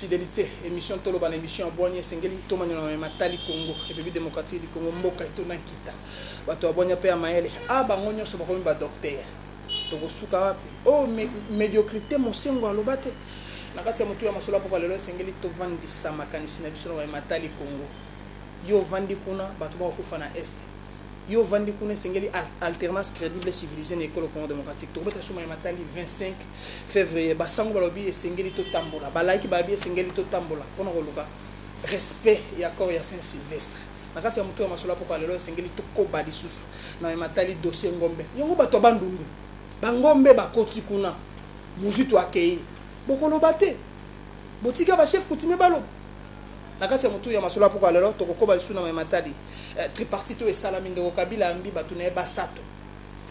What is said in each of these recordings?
fidelité émission toloba na émission ya bwanya esengeli tomanyola na matali congo république démocratique du congo mboka etona nkita bato ya bwanya mpe ya mayele a ah, bango nyonso bakomi badoktere Tokosuka wapi? Oh, me, mediocrite, Mosengwo aloba te. Na kati ya motuya masolo ya pokwa lelo, esengeli tovandisa makanisi na biso na oyo matali Congo. Yo ovandi kuna, bato bakokufa na Est. Yo ovandi kuna, esengeli alternance credible et civilisee na ekolo Congo democratique. Tokobeta suma ya matali 25 fevrier. Basango balobi esengeli totambola. Ba laiki babi esengeli totambola pona koluka respect ya accord ya Saint Sylvestre. Na kati ya moto ya masolo ya pokwa ya lelo, esengeli tokoba lisusu na oyo matali dossier Ngombe. Yango bato ya Bandundu, ba Ngombe bakoti kuna, Muzitu akeyi, bokoloba te? Botika ba chefs coutumiers baloba. Na kati ya moto ya masolo ya pokwa ya lelo, tokokoba lisusu na oyo matali tripartite oyo esalami. Ndeko Kabila ayambi bato na ye basato,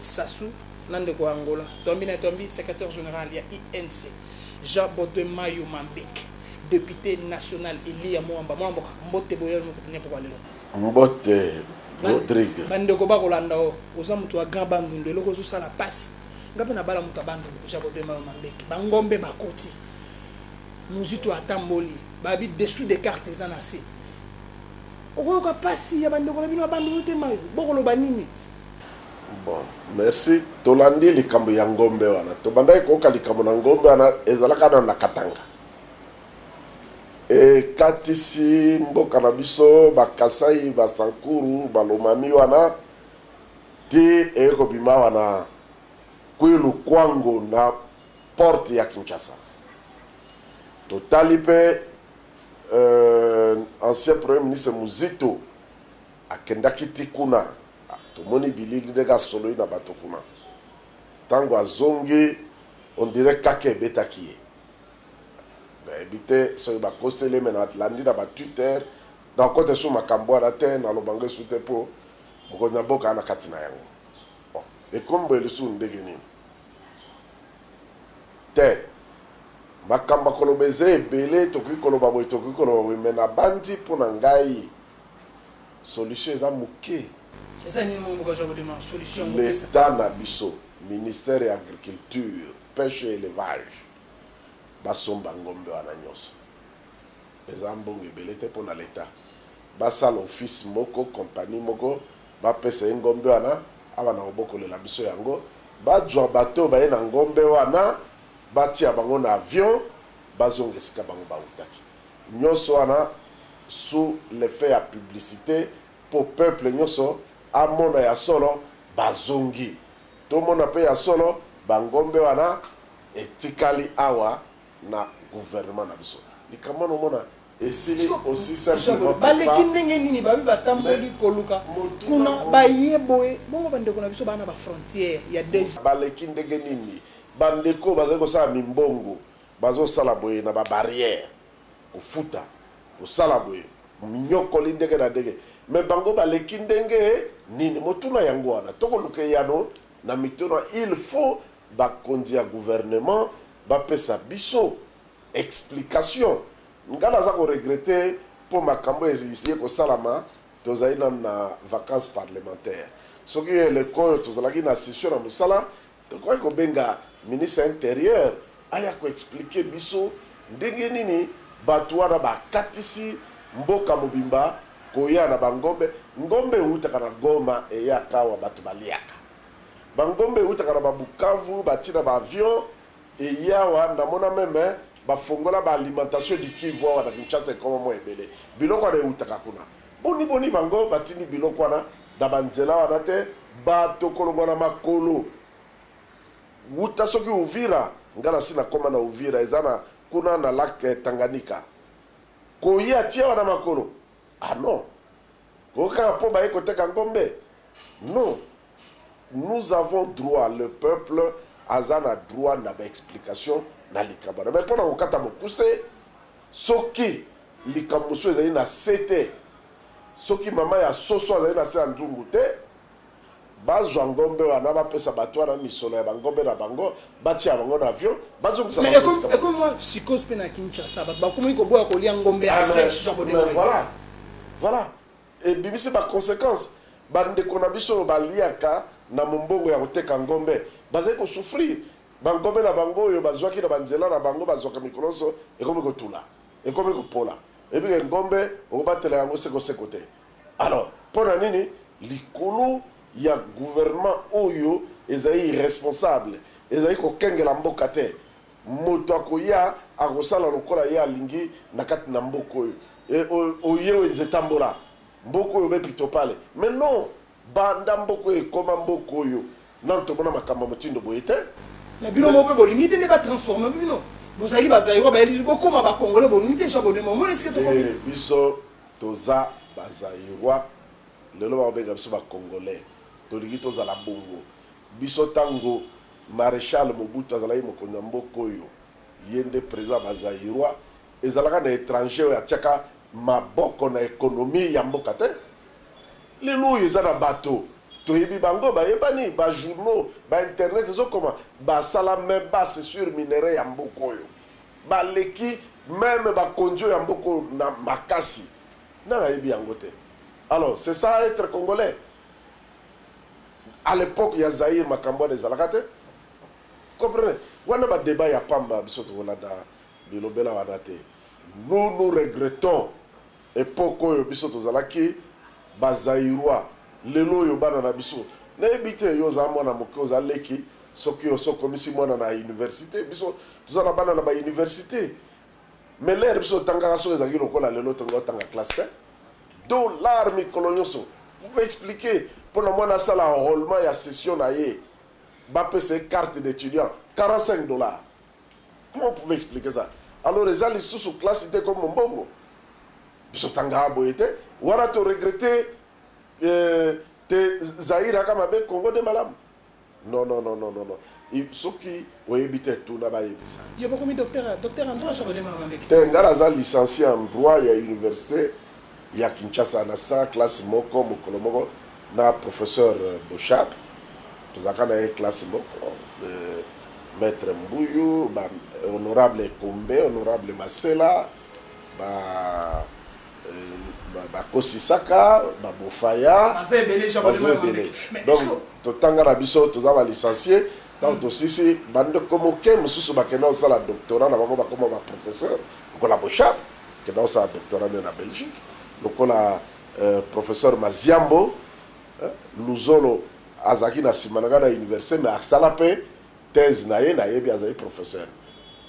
Sassou na ndeko ya Angola, Twambi na Twambi, secretaire general ya UNC, Jean Bodwe Mayo Mambeke. Depute national Eliya Muamba mwana mboka mbote boyali mukutu nye pokwa lelo. Mbote Rodrigue. Ba ndeko ba kolanda yo oza mutu ya grand bandundu eloko ezo sala pasi nga pe na bala mutu ya bandundu jabo bemba yo mambeke ba ngombe ba koti muzitu ata mboli ba bi dessous de carte eza na se oko yoka pasi ya ba ndeko na bino ya bandundu te mayo boko loba nini Bon merci tolandi likambo ya ngombe wana tobandaki koyoka likambo na ngombe wana ezalaka na na katanga ekatisi mboka na biso ba kasai ba sankuru ba lomami wana ti eye kobima awa na kwilu kwango na porte ya kinshasa totali pe euh, ancien premier ministre muzito akendaki ti kuna Tomoni bilili ndenge asololi na bato kuna. Tango azongi on dirait kake ebetaki ye. Nayebi te soki bakoseli ye mais nalandi na ba Twitter. Nakokota lisusu makambo wana te, naloba yango lisusu te po mokonzi na mboka aza na kati na yango. Bon, ekomi boye lisusu ndenge nini? Te, makambo ya koloba eza ebele, tokoki koloba boye, tokoki koloba boye mais nabanzi po na ngai, solution eza muke. Eza nini oyo mboka azwa kodema solution yango pesa. L'etat na biso, ministère ya agriculture, peche et elevage basomba ngombe wana nionso. Eza mbongo ebele te pona l'etat. Basala office moko, compagnie moko, bapesa ye ngombe wana abanda kobokolela biso yango. Bazwa bato oyo baye na ngombe wana, batia bango na avion, bazonga esika bango bawutaki. nionso wana sous l'effet ya publicite po peuple nionso amona ya solo bazongi tomona pe ya solo ba ngombe wana etikali awa na gouvernement na biso likambo wana omona esili aussi simplement que ça mais baleki ndenge nini ba ndeko bazali kosala mimbongo. Bazo sala boye na ba barrière kofuta kosala boye minyokoli ndenge na ndenge mais bango baleki ndenge nini motuna yango wana toko luka eyano na mituna il faut ba konzi ya gouvernement ba pesa biso explication nga naza ko regrette po makambo eye kosalama tozali nanu na vacance parlementaire soki eleko oyo tozalaki na session na musala Tokokaki kobenga ministre ya interieur aya ko expliquer biso ndenge nini batu wana bakatisi mboka mobimba koya na ba ngombe, ngombe ewutaka na Goma eyaka awa batu baliaka. Ba ngombe ewutaka na ba Bukavu bati na ba avions eye awa, namona meme bafongola ba alimentation du Kivu awa na Kinshasa ekoma mua ebele, biloko wana ewutaka kuna. Boni boni bango batindi biloko wana? Na banzela wana te bato kolongwa na makolo wuta soki Uvira, nga nasi nakoma na Uvira eza na kuna na lac Tanganyika, koya ti awa na makolo ah non ko kaka po baye koteka ngombe non nous avons droit le peuple aza na droit na ba explications na likambo wana mais pona kokata mokuse soki likambo mosusu ezali na se te. Soki mama ya soso azali na se ya nzungu te, bazwa ngombe wana, bapesa bato wana misolo ya bangombe na bango, batia bango na avion, bazongisa bango esika bawuti. Mais ekomi mua psychose pe na Kinshasa, bato bakomi koboya kolia ngombe ya fresh, genre bo deconner. Voilà, voilà, ebimisi ba consequences, ba ndeko na biso oyo baliaka na mombongo ya koteka ngombe, bazali ko souffrir, bangombe na bango oyo bazwaki na banzela na bango, bazwaka mikolo nionso, ekomi kotula. ekomi kopola, oyebi ke ngombe okobatela yango seko seko te, alors pona nini likolo ya gouvernement oyo ezali irresponsable, ezali kokengela mboka te, moto akoya akosala lokola ye alingi na kati na mboka oyo, et oye wenze tambola, mboka oyo be pitopale, mais non! Banda mboka oyo ekoma mboka oyo nanu tomona makambo ya motindo boye te. Mais bino moko pe bolingi te nde ba transformer bino? Bozalaki ba Zairois ba yeli bokoma ba Congolais bolungi te Jean Bodemo omoni esika tokomi? Te biso toza ba Zairois lelo bako benga biso ba Congolais tolingi tozala bongo biso tango Marechal Mobutu azalaki mokonzi ya mboka oyo ye nde president ya ba Zairois Ezalaka na etranger oyo atiaka maboko na economie ya mboka te. Lelo oyo eza na bato toyebi bango, bayebani, ba journaux, ba internet ezokoma, basala main basse sur minerais ya mboka oyo. Baleki meme bakonzi oyo ya mboka oyo na makasi. Nani ayebi yango te? Alors, c'est ça etre congolais? A l'epoque ya Zaïre makambo wana ezalaka te. Vous comprenez? Wana ba debats ya pamba biso tokolanda. Bilobela wana te nous nous regrettons epoque oyo biso tozalaki ba zaïrois lelo oyo bana na biso nayebi te yo oza mwana moke oza leki soki osi okomisi mwana na universite biso toza na bana na ba universite mais l'heure biso totangaka soki ezalaki lokola lelo tolingi otanga classe te dollar mikolo nyonso vous pouvez expliquer mpo na mwana asala enrôlement ya session na ye bapesa ye carte d'étudiant 45 dollars Comment vous pouvez expliquer ça? Alors eza lisusu classe te comme Mombongo? Biso tangaka boye te. Wana to regretter te Zaïre aka mabe Congo nde malamu? Non non non non non soki oyebi te tuna bayebisa yo. Yo bokomi docteur docteur en droit? Te nga naza licencie en droit ya universite. ya Kinshasa na sala classe moko mokolo moko na professeur Boshab tozalaka na ye classe moko maitre Mbuyu ba honorable Ekombe honorable Masela ba ba Kosisaka ba Bofaya baza ebele donc totanga na biso toza ba licencie tango tosisi ba ndeko moke mosusu bakenda kosala doctorat na bango bakoma ba professeur lokola Boshab kenda osala doctorat nde na Belgique lokola professeur Maziambo Luzolo azalaki na sima na ngai na universite mais asala pe thèse na ye nayebi azali professeur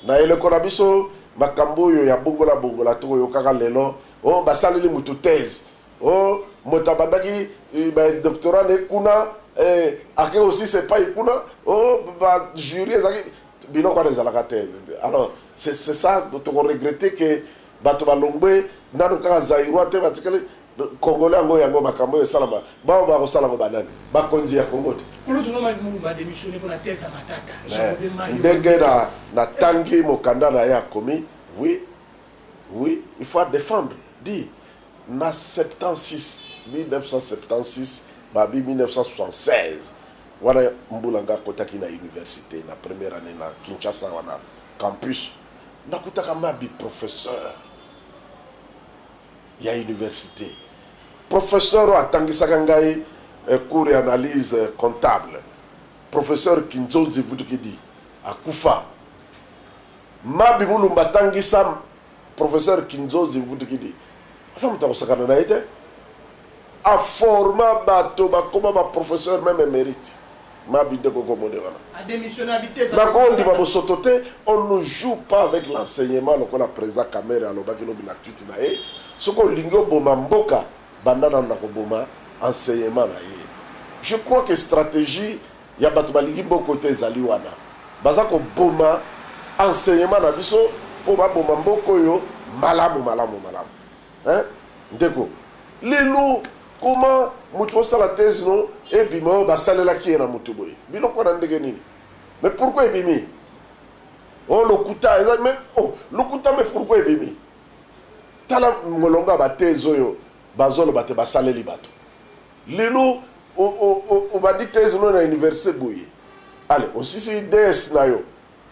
na eleko na biso makambo oyo ya bongola bongola toko yokaka lelo oh basaleli mutu thèse Oh moto abandaki ba doctorat ne kuna eh, ake kosisa epai kuna oh ba jury ezalaki biloko wana ezalaka te alors c'est c'est ça toko regretter que bato balongwe nano kaka zaïrois te batikali congolais yango yango makambo oyo esalama bao bakosala ngo banani bakonzi ya congo te Kulutu no Mike Mulumba a demissionner pona thèse ya Matata. Jean Robert Mayo. ndenge na natangi mokanda na ye akomi oui Oui il faut a defendre dit na 76 1976 ba bi 1976 wana mbula nga kotaki na universite na première annee na Kinshasa wana campus na kutaka ma bi professeur ya universite professeur atangisaka ngai eh, cours ya analyse comptable professeur Kinzonzi Vutukidi akufa Mabi mulumba tangisa professeur kinzonzi mvundikidi aza moto ya kosakana na ye te a forma bato bakoma ba professeur meme emerite mabi nde koko omoni wana nako ndima bosoto te on ne joue pas avec l'enseignement lokola president kamere alobaki lobi na tweet na ye soki olingi oboma mboka banda nanu na koboma enseignement na ye je crois que strategie ya batu balingi boko te ezali wana baza koboma enseignement na biso po baboma mboka oyo malamu malamu malamu hein ndeko lelo comment mutu osala thèse no ebima oyo basalelaki ye na mutu boye biloko wana ndenge nini mais pourquoi ebimi oh lokuta eza mais oh lokuta mais pourquoi ebimi tala molongo ya bathèse oyo bazoloba te basaleli bato Lelo o o o obandi thèse no na universite boye allez osisi DES na yo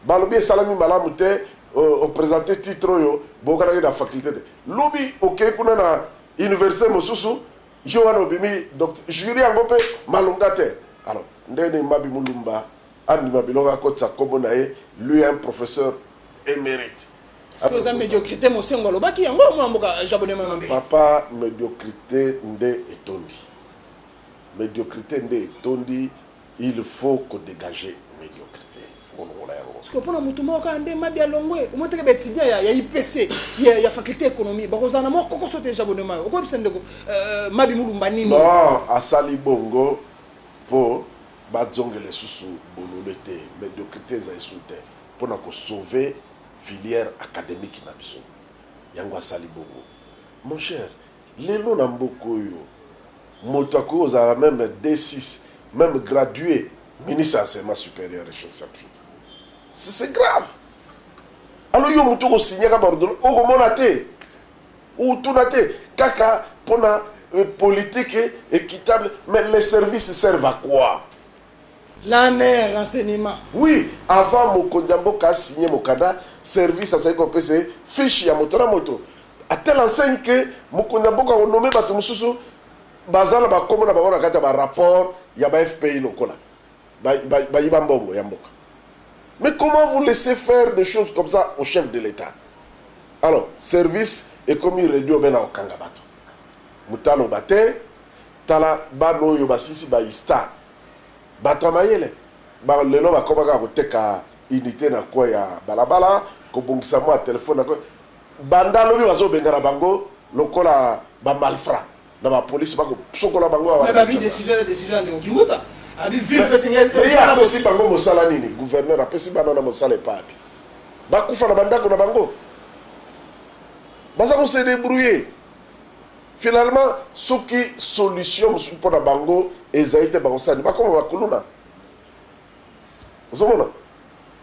balobi esalami malamu te o o presenter titre oyo boyokanaki na faculte te lobi okeyi kuna na universite mosusu yo wana obimi docte jury yango pe malonga te alors ndenge nini Mabi Mulumba Andima biloko akotisa kombo na ye lui un professeur emerite. Ce que oza mediocrite mosengo alobaki yango mwana mboka jabone mama mbe. Papa mediocrite nde etondi mediocrite nde etondi il faut ko degager mediocrite il faut kolongola yango. Ce que pona mutu moko kaka nde mabi alongwe omoni te ke ba etudiants ya ya IPC ya ya faculte economie bakozala na mwa kokoso te jabone mama okoyebisa ndeko mabi mulumba nini. Non asali bongo po. Ba zongue lesusu bolole te mediocrite eza esu te pona ko sauver filiere academique na biso yango asali bongo mon cher lelo na mboka oyo moto akoki kozala meme D6 meme gradue ministre ya enseignement superieur et scientifique c'est grave alors yo mutu oko signaka ba ordonnance oko mona te? Ou tuna te kaka pona politique equitable mais les services servent à quoi? La ne renseignement. Oui avant mokonzi ya mboka a signe mokanda service azali kopese fiche ya moto na moto a telle enseigne que mokonzi ya mboka ako nomme batu mosusu baza na ba kombo na bango na kati ya ba rapport ya ba FPI lokola ba yiba mbongo ya mboka mais comment vous laissez faire des choses comme ça au chef de l'etat alors service ekomi radio bena okanga bato mutalo bate tala bana oyo basisi ba ista bato ya mayele ba lelo bakomaka koteka unité na coin ya balabala kobongisa mwa telefone na coin banda lobi bazobengana bango lokola ba malfra Na ba police ba ko sokola bango awa na Kinshasa. Mais ba bi decision eza decision ya ndeko Kimbuta. Abi ville fesse nga eza. Mais ye apesi bango mosala nini? Gouverneur apesi bana wana mosala epa abi? Ba kufa na ba ndako na bango? Baza ko se debrouiller. Finalement soki solution mosusu pona bango ezali te bakosala nini? Bakoma ba kuluna? Ozo mona?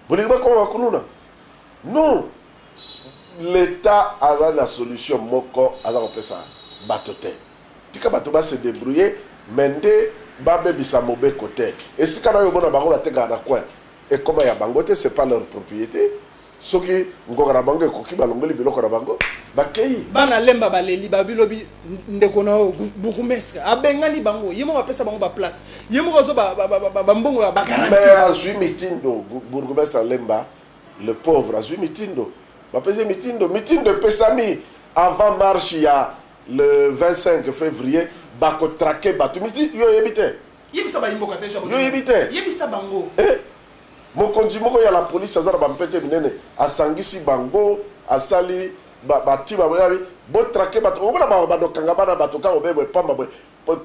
Bolingi ba koma ba kuluna? Non! L'etat aza na solution moko aza ko pesa bato te. Tika bato ba se debrouiller mais nde ba bebisa mobeko te. Esika nayo omona bango ba tekaka na coin ekoma ya bango te, c'est pas leur propriete. Soki ngonga na bango ekoki, balongoli biloko na bango, bakei. Bana Lemba baleli, babi lobi ndeko na yo bourgoumestre abengani bango, ye moko apesa bango ba place, ye moko azwa ba mbongo ya ba garantie. Mais azwi mitindo, bourgoumestre ya Lemba le pauvre azwi mitindo, bapesi ye mitindo, mitindo epesami avant marche ya le 25 fevrier bako traquer batu, yo oyebi te? Yebisa bayi mboka dejà bolingo, yebisa bango. Mokonzi moko ya la police aza na ba mpete minene asangisi bango asali ba ba tima boye abi bo traque bato okomona mawa bando okanga bana bato kaka obe boye pamba boye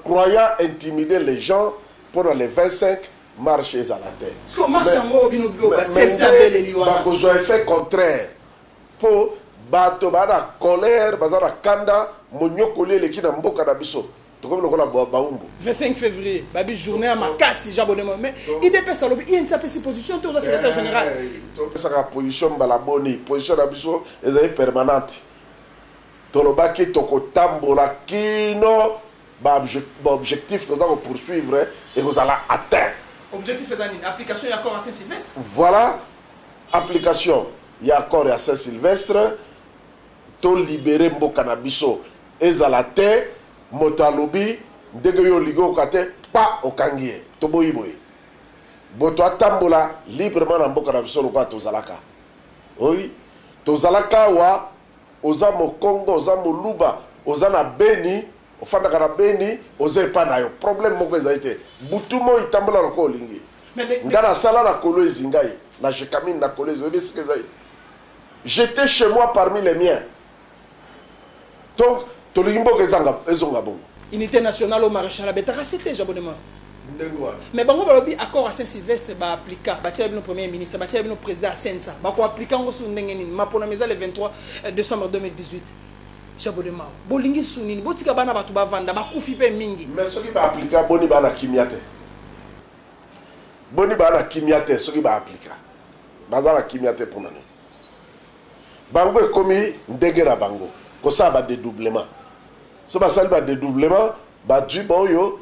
croyant intimider les gens pona le 25 marche ezala te mais bakozua effet contraire po bato ba na colère baza na kanda monyokoli eleki na mboka na biso. Tokomi lokola ba baumbu. 25 fevrier babi journee ya makasi jean bone moyeme idps alobi inc apesi position te oza secretaire general Topesaka position mbala boni? Position na biso ezali permanente. Tolobaki tokotambola kino ba objectifs toza ko poursuivre ekozala atteint. Objectif eza nini? Application ya accord ya Saint Sylvestre? Voilà application ya accord ya Saint Sylvestre To libere mboka na biso ezala te moto alobi ndenge yo olingi oyoka te kpa okangi ye toboyi boye moto atambola librement na mboka na biso lokola tozalaka oui tozalaka awa oza mokongo oza moluba oza na beni ofandaka na beni oza epa na yo problème moko ezali te butu moi tambola lokola olingi nga nasala na kolwezi ngai na jecamine na kolwezi oyebi esika ezali J'etais chez moi parmi les miens donc tolingi mboka ezanga ezonga bongo. Unite nationale au marechal abetaka site j'abonnement ndenge wana mais bango balobi accord à saint sylvestre ba applica batiela bino premier ministre batiela bino président ya sensa bako applica yango susu ndenge nini maponami eza le 23 euh, décembre 2018 jabodemao bolingi su nini botika bana bato bavanda bakufi mpe mingi me soki baaplika boni bana kimia te boni bana kimia te soki baaplika Baza na kimia te pona nini? Bango ekomi ndenge na bango kosala ba dedoublement. Soki basali ba dedoublement bazui ba oyo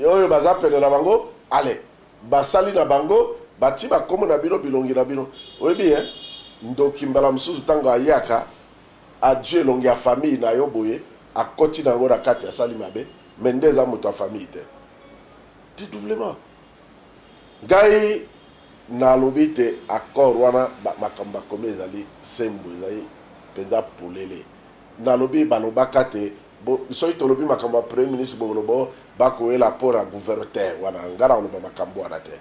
oyo baza pene na bango allez basali na bango bati ba kombo na bino bilongi na bino oyebi hein ndoki mbala mususu tango ayaka azui elongi ya famille na yo boye akoti na yango na kati asali mabe mais nde eza mutu ya famille te. Dedoublement. Ngai na lobi te accord wana ba makambo ba komi ezali sembo ezali penza polele na lobi ba lobaka te bo soki to lobi makambo ya premier ministre bo koloba oh ba kueyela port ya gouverneur te wana ngai na koloba makambo wana te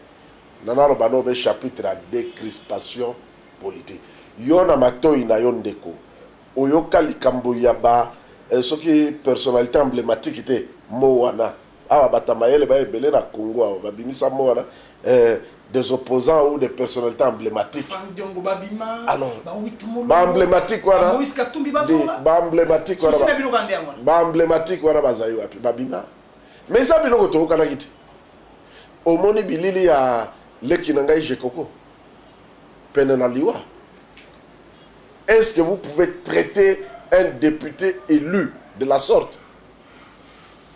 na na loba no be chapitre ya decrispation politique yo na matoyi na yo ndeko oyoka likambo ya ba soki personnalite emblematique te mot wana Awa bata mayele ba ebele na Congo awa ba bimisa mot wana eh, des opposants ou des personnalites emblematiques. Ba Franck Diongo ba bima, Alors, ba Wit Mulumbu, ba emblematiques wana, ba Moïse Katumbi ba zonga. Ba emblematiques wana, souci na bino kaka nde yango wana. Ba emblematiques wana bazali wapi? Ba bima? Mais eza biloko toyokanaki te. Omoni bilili ya leki na ngai Jekoko pene na liwa? Est-ce que vous pouvez traiter un depute elu de la sorte?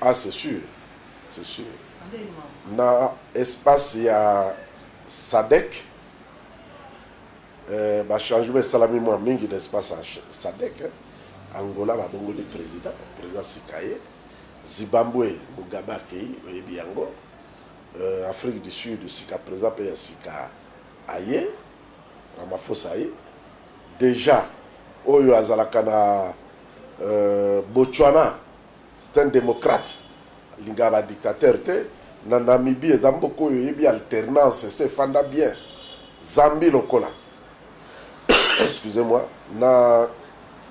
Ah c'est sur c'est sur na espace ya sadec eh, ba changement esalami mwa mingi na espace ya sadec eh. Angola babongoli president president sikaye Zimbabwe Mugabe akei oyebi yango euh, Afrique du Sud sika president mpe ya sika aye Ramaphosa aye deja oyo azalaka na euh, Botswana C'est un democrate alingaka ba dictateur te na Namibie eza mboka oyo eyebi alternance esi efanda bien Zambie lokola excusez moi na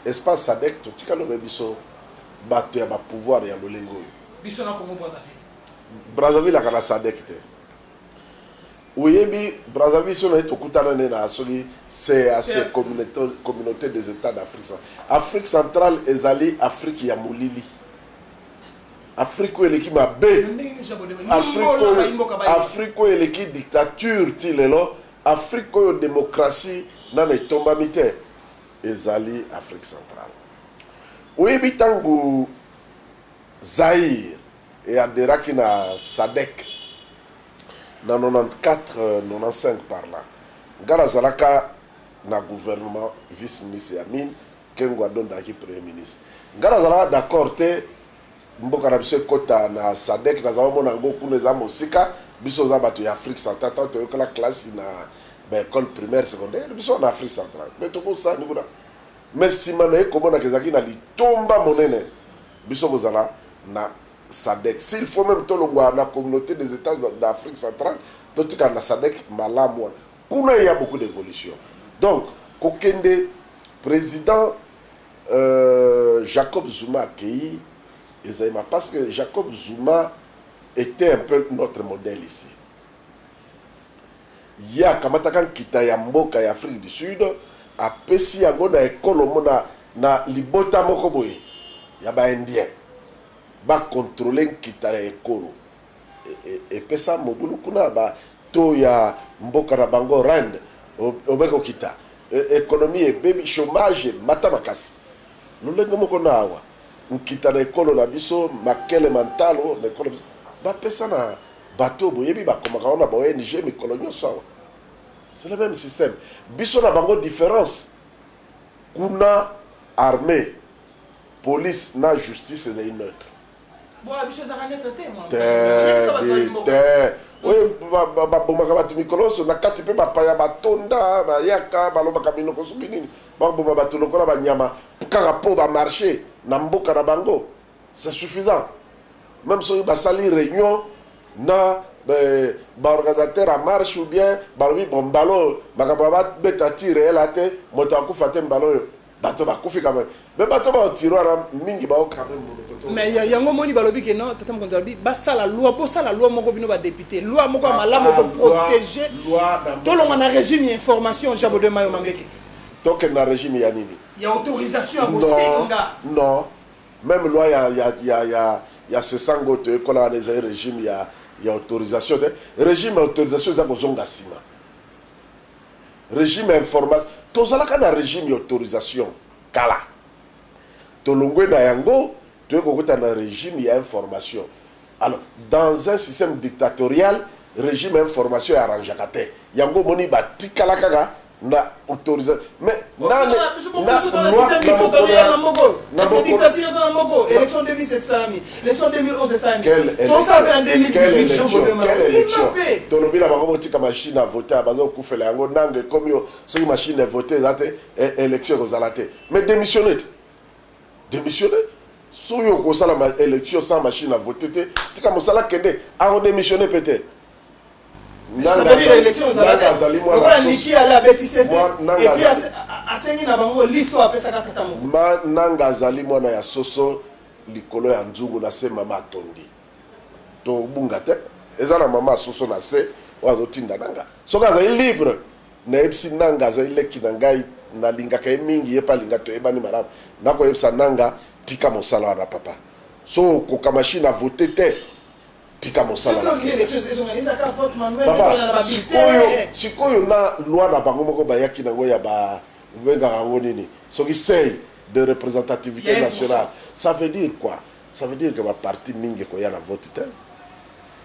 espace sadec totikali obe biso batu ya ba pouvoir ya lolenge oyo. Biso na Congo Brazzaville. Brazzaville aka na sadec te. Oyebi Brazzaville biso naye tokutana nde na soki CEAC, Communaute des Etats d'Afrique centrale. Afrique centrale ezali Afrique ya molili. Afrique oyo eleki mabe. Afrique oyo eleki dictature ti lelo. Afrique oyo democratie nanu etombami te ezali Afrique centrale. Oyebi tangu Zaïre e aderaki na sadec. na 94-95 par là, nga nazalaka na gouvernement vice ministre ya mines, Kengo adondaki premier ministre. Nga nazalaka d'accord te mboka na biso ekota na sadec, naza omona yango kuna eza mosika, biso oza batu ya Afrique centrale, tango toyokela classe na ba ecole primaire, secondaire, biso wana Afrique centrale mais tokosani kuna, mais sima naye komonaka ezalaki na litomba monene biso kozala na Sadec s'il faut meme tolongwa na communaute des etats d'Afrique centrale totikala na Sadec malamu wana kuna il ya beaucoup d'evolution donc kokende president Jacob Zuma akeyi ezali ma parce que Jacob Zuma etait un peu notre modèle ici ye akamataka nkita ya mboka ya Afrique du Sud apesi yango na ekolo moko na libota moko boye ya ba indiens Ba controler nkita ya ekolo epesa mobulu kuna ba taux ya mboka na bango rand obe kokita economie ebebi chomage emata makasi lolenge moko na awa nkita na ekolo na biso makele ma ntalo na ekolo na biso ba pesa na bato boyebi ba komaka ngo na ba ong mikolo nyoso awa c'est le meme système biso na bango difference kuna armee Police na justice ezali neutre te te oyo babomaka bato mikolo nyonso na kati mpe bapaya batonda bayaka balobaka minoko soki nini baboma bato lokola banyama kaka mpo bamarche na mboka na bango c'est suffisant meme soki basali reunion na baorganisateur ya marche ou bien balobi bo mbala oyo makambo ya babeta ti reyela te moto akufa te mbala oyo Bato bakufi quand meme. Mais bato ba tiroir mingi ba oka meme munoko to. Mais yango omoni balobi que non tata mokonzi alobi basala loi bosala loi moko bino ba depute loi moko ya malamu eko proteger tolongwa na regime ya information jean baudouin mayo mambeke. Tokende na regime ya nini? Ya autorisation ya bosenga. Non non meme loi ya ya ya ya ya sesango to ekola wana ezali regime ya ya autorisation te regime ya autorisation eza kozonga sima. Regime ya informa tozalaka na regime ya autorisation kala tolongwe na yango toye kokota na regime ya information alors dans un système dictatorial regime ya information e arrangeaka te yango omoni batikala kaka na autorisa mais nani na loi na mokolo ya na mokolo na mokolo Leçon 2011 esani. Quelle élection? Tosa pe na 2018 Quelle yo élection? botema. Quelle Ima élection? pe. tolobi na bango botika machine à voter bazokufela yango nanga ekomi yo soki machine à voter eza te e- élection ekozala te mais démissionne te démissionne soki okosala ma- élection sans machine à voter te tika mosala kende akodémissionne mpe te Ça veut dire élection ezala Nanga te. azali mwana Lokola susu. Niki ala abeti sete. Mwa- Nanga Et puis azali- as- a- asengi na bango liso apesaka tata moko. Ma- nanga azali mwana ya soso likolo ya nzungu na se mama atondi to bunga te eza na mama asoso na se oyo azotinda nanga soki azali libre nayebisi nanga azali leki na ngai nalingaka ye mingi ye mpe alinga toyebani malamu nakoyebisa nanga tika mosala wana papa so okoka machine a vote te tika mosala na papa sikoyo sikoyo na loi na bango moko bayaki nango ya ba obengaka yango nini soki sei de representativite nationale ça veut dire quoi? ça veut dire que ba partis mingi ekoya na vote te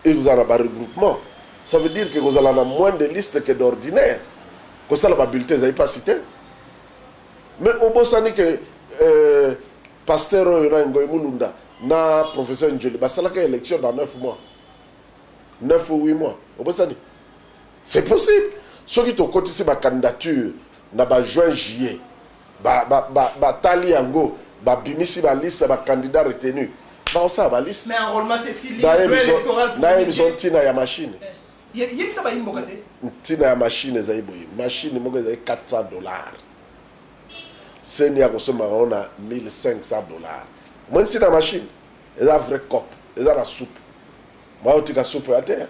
et kozala na ba regroupements ça veut dire que kozala na moins de listes que d'ordinaire kosala ba bulletins ezali pasi te mais obosani que euh, pasteur oyo na Ngoy Mulunda na professeur Njoli basalaka election dans 9 mois 9 ou 8 mois obosani c'est possible soki tokotisi ba candidature na ba juin juillet Ba tali yango ba bimisi ba liste ya ba candidats retenus. Bako sala ba liste. Mais enrolement c'est si libre, loi electorale pour. Na yebi biso ntina ya machine. Yebisa bayi mboka te. Ntina ya machine ezali boye, machine moko ezali 400 dollars. Ceni ako sombaka yango na 1500 dollars. Omoni ntina ya machine? Eza vrai cop, eza na soupe. Moyen otika soupe oya te.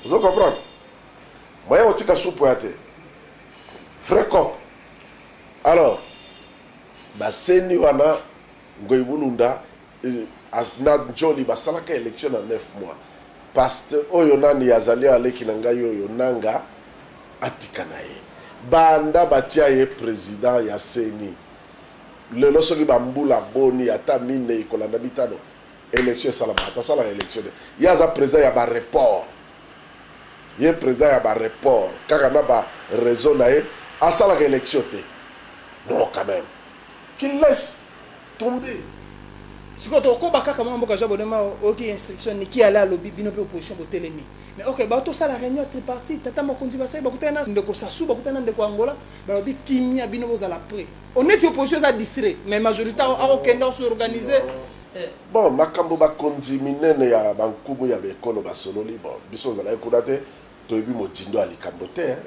Ozo comprendre? Moyen otika soupe oya te. Vrai cop. Alors ba ceni wana Ngoy Bulunda na Njoli basalaka election na 9 mois. Past oyo nani azali oyo leki na ngai oyo Nanga atika na ye. Banda batia ye president ya ceni lelo soki ba mbula boni ata mineyi kolanda mitano election esalamaka te. Asalaka election te. Ye aza president ya ba report. ye president ya ba report kaka na ba reseau na ye asalaka election te non quand meme qu'il laisse tomber. Sikoyo toko koba kaka mwana mboka job odemao oyoki instruction niki alain alobi bino pe opposition botelemi mais ok ba tosala reunion ya tripartite tata mokonzi basali bakutani na ndeko sassou bakutani na ndeko angola balobi kimia bino bozala pret oneti opposition eza distrait mais majorita ako kende ako s'organiser Bon, makambo bakonzi minene ya ba nkumu ya ba ekolo basololi, bon, biso ozalaki kuna te, toyebi modindo ya likambo te hein.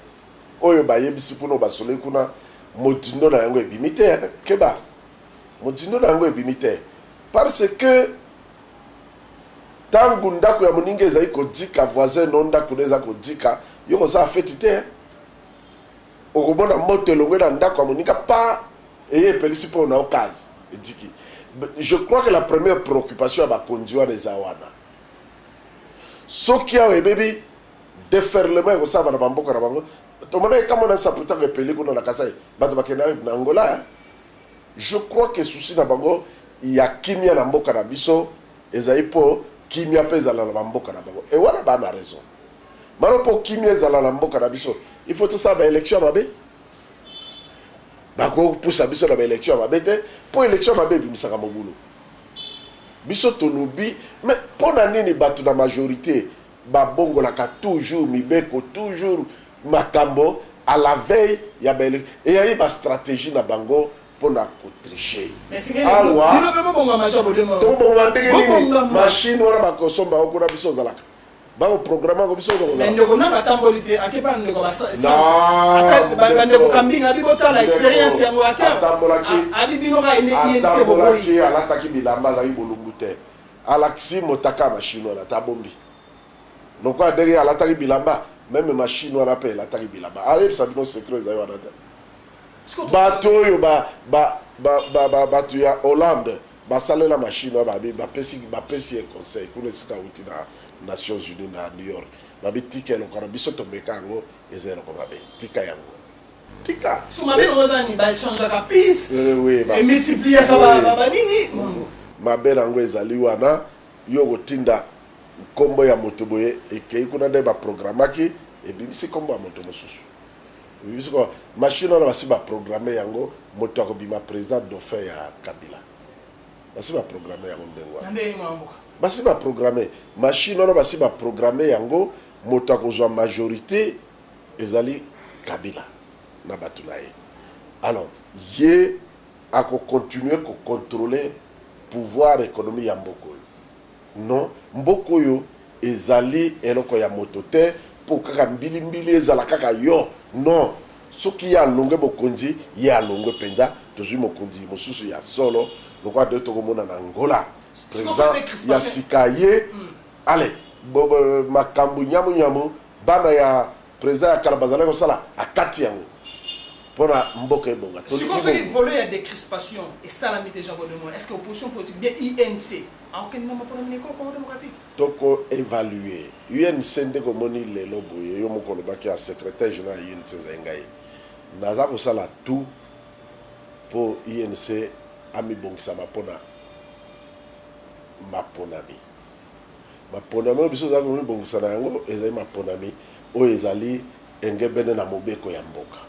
Oyo bayebisi kuna, oyo basololi kuna, modindo na yango ebimi te hein. Keba! Modindo na yango ebimi te parce que tango ndako ya moninga ezali kodika, voisin no ndako ne eza kodika, yo kosala feti te hein. Okomona moto elongwe na ndaku ya moninga paa eye epelisi po na okaz ediki je crois que la première preoccupation ya bakonzi wana eza wana soki awa ebebi deferlement ekosalama na ba mboka na bango tomonaki ka mwana nsapu tango epeli kuna na kasai bato bakenda na angola hein je crois que souci na bango ya kimia na mboka na biso ezali po kimia pe ezala na ba mboka na bango et wana ba na raison. Bano po kimia ezala na mboka na biso il faut tosala ba election ya mabe? Bako pusa biso na ba election ya mabe te po election ya mabe ebimisaka mobulu. Biso tolobi mais pona nini batu na majorite ba bongolaka toujours mibeko toujours makambo à la veille ya ba election eyaye ba strategie na bango pona ko tricher. Awa tokobonga ndenge nini machine wana bako somba yango kuna biso ozalaka? Bako programme ako biso toko Mais ndeko nanga tamboli te ake ba ndeko ba sa ba ndeko kambinga bi botala experience yango ake tambola ki abi bino ba ene ki ene sebo boyi ki ala taki bilamba zaki bolumbu te ala kisi motaka ba chinois na tabombi loko adege ala taki bilamba meme ma chinois na pe ala taki bilamba ala yebisa bino secret zayo anata bato oyo ba ba ba ba ba bato ya Hollande Ba salela machine wana ba bi ba pesi ba pesi ye conseil kuna esika awuti na nations unis na new york ba bi tika eloko wana biso to meka yango eza eloko mabe tika yango tika so mabe yango eza nini ba echangeaka piece euh, oui ba et multipliaka ba ba ba nini mango mabe nango ezali wana yo kotinda nkombo ya moto boye ekei kuna nde ba programmaki ebimisi nkombo ya moto mosusu Oyebi sikoyo machine wana basi ba programme yango moto ako bima president dauphin ya kabila basi ba programme yango ndenge wana basi ba programme machine wana basi ba programme yango moto akozwa majorite ezali kabila na bato na ye alors ye ako continuer ko controler pouvoir economie ya mboka oyo Non mboka oyo ezali eloko ya moto te po kaka mbili mbili ezala kaka yo non soki ye alongwe bokonzi ye alongwe penza tozui mokonzi mosusu ya solo lokola de toko mona na Angola president ya sika aye ale makambu nyamu nyamu bana ya president ya kala bazalaki kosala akati yango pona mboka ebonga tolingi bongo. Akokende na mapona mina ekolo Congo democratique. Toko evaluer. UNC ndeko omoni lelo boye yo moko olobaki ya secretaire general ya UNC ezali ngai naza kosala tout po UNC amibongisama pona maponami. Maponami oyo biso tozali komibongisa na yango ezali maponami oyo ezali engebene na mobeko ya mboka.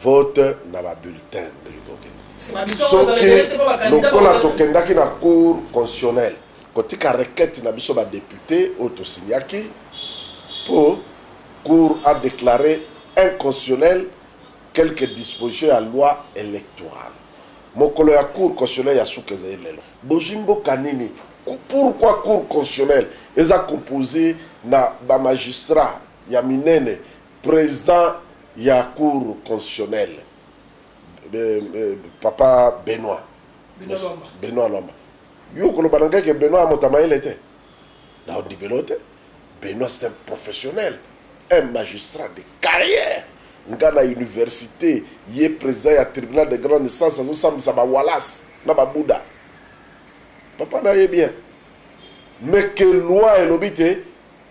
vote na ba bulletin ndenge tokende soki lokola tokendaki na cour constitutionnel kotika requete na biso ba depute oyo tosignaki mpo cour a declare inconstitutionnel quelque disposition ya loi électorale mokolo ya cour constitutionnel ya suka ezali lelo bozwi mboka nini pourquoi cour constitutionnel eza compose na ba magistrat ya minene President ya Cour constitutionnelle, papa Benoit, Benoit Lwamba, yo okoloba na ngai que Benoit aza moto ya mayele te? Nao ndimela yo te. Benoit c'est un professionnel, un magistrat de carrière. Nga na universite, ye president ya tribunal de grande instance azo sambisa ba walas na ba buda. Papa na ye bien. Mais que loi elobi te,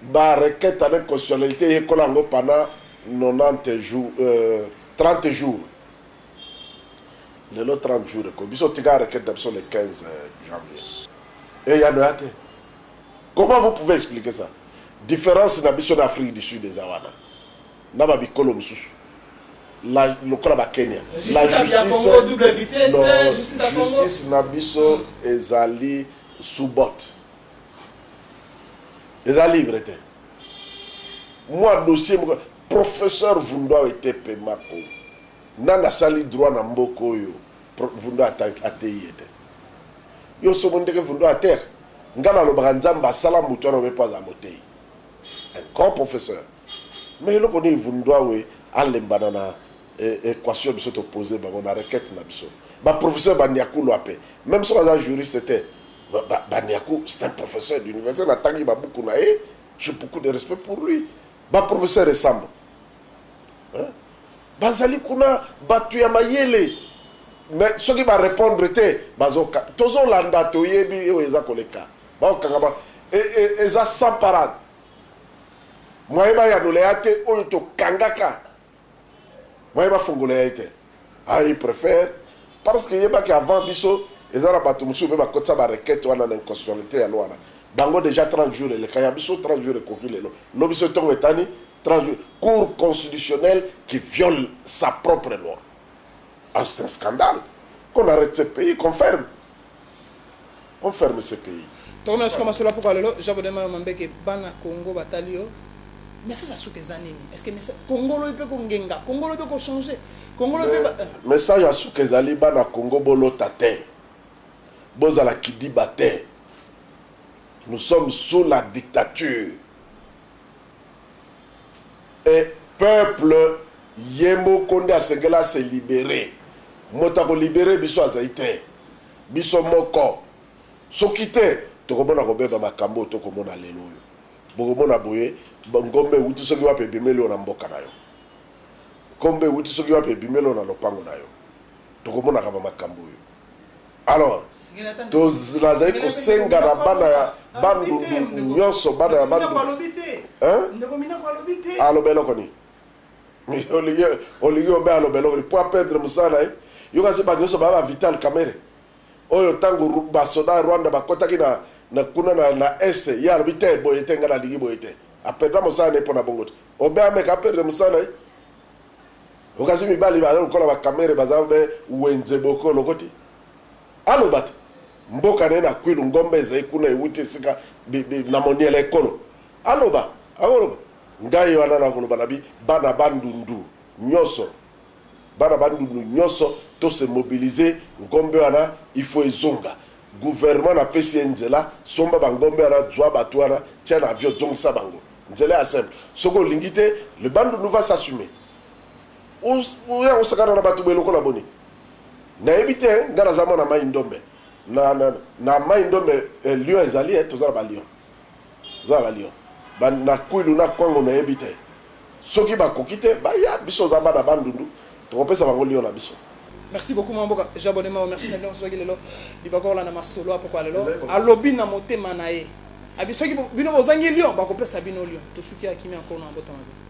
Ba requetes en inconstitutionnalite yekola yango pendant 90 jours, euh, 30 jours. Lelo 30 jours ekomi, biso tika requete na biso le 15 janvier. Eyano eya te. Comment vous pouvez expliquer ça? Difference na biso na Afrique du Sud eza wana, na ba bikolo mosusu la lokola ba Kenya. La justice, non, justice na biso ezali sous botte. eza livre te mwa dossier moko professeur vundwa wete pemako nani asali droit na mboka oyo vundwa ateyi ye te yo somo ndenge vundwa atere nga nalobaka nzambe asala motu wana obe mpo aza moteyi un grand professeur mais eloko nini vundwa we alembana na equation biso to poser bango na requete na biso ba professeur ba niaku loi pe meme soki aza juriste te ba niaku c'est un professeur d'université na tangi ba buku na ye j'ai beaucoup de respect pour lui ba professeur esambo hein? bazali kuna batu ya mayele mais soki ba répondre te bazo tozo landa toyebi oyo eza koleka bakokanga ba e, e, eza sans parade mwaye bayanola ya te oyo tokangaka Moyen ba fongola ye te ah il prefère parce que yeba ke avant biso eza na batu mususu pe ba kotisa ba requete wana na inconstitutionnalite ya loi wana bango dejà 30 jours eleka ya biso 30 jours ekoki lelo lobi soki tongo etani 30 jours cour constitutionnelle qui viole sa propre loi ah c'est un scandale qu'on arrete ce pays qu'on ferme on ferme ce pays. Toko mela suka masolo ya pokwa lelo Jean Baudin Mayo Mambeke bana Congo batali yo message ya suka eza nini est ce que message Congo lobi pe ko ngenga Congo lobi eko changer Congo lobi pe ba Message ya suka ezali bana Congo bo lota te bo zala kidiba te nous sommes sous la dictature et peuple ye moko nde asengeli a se liberer moto ako liberer biso azali te biso moko soki te tokomona kobeba makambu oyo to komona lelo oyo bokomona boye ngombe ewuti soki wapi ebimeli yo na mboka na yo ngombe ewuti soki wapi ebimeli yo na lopango na yo tokomonaka ba makambu oyo. Alors, to, nazali kosenga na bana ya Bandundu nyonso, bana ya Bandundu. Hein? Aloba eloko nini? olingi olingi obe aloba eloko nini? Po apedre mosala na ye. Yo kasi ba nyonso baya ba Vital Kamerhe. Oyo ntango basoda ya Rwanda bakotaki na, na kuna na, na Est, ye alobi te, boye te, ngai nalingi boye te. Apedra mosala na ye mpo na bongo te. Obe ameka apedre mosala na ye. Okasi mibali baza lokola ba kamere baza ve wenze boke olokoti aloba te mboka naye na kwilu ngombe ezali kuna ewuti esika na moniele ya ekolo aloba akoloba ngai wana nakoloba na bi bana bandundu nyoso bana bandundu nyoso to se mobiliser ngombe wana il faut ezonga gouvernement na pesi ye nzela somba ba ngombe wana zua batu wana tia na avion zongisa bango. Nzela ya simple soki olingi te le bandundu va s'assumer oya kosakana na batu boye lokola boni nayebi te nga naza mwana mayi ndombe na na na mayi ndombe eh, lion ezali eh, toza na ba lion toza na ba lion ba na kwilu na kwango nayebi te soki bakoki te baya biso za bana bandundu Tokopesa bango lion na biso. Merci beaucoup mwana mboka j'abonne mawa merci na bino soki lelo bibakorla na masolo apokwa lelo alobi na motema na ye abi soki bino bozangi lion bakopesa bino lion tosuki ya kimia mpo na mabota mabe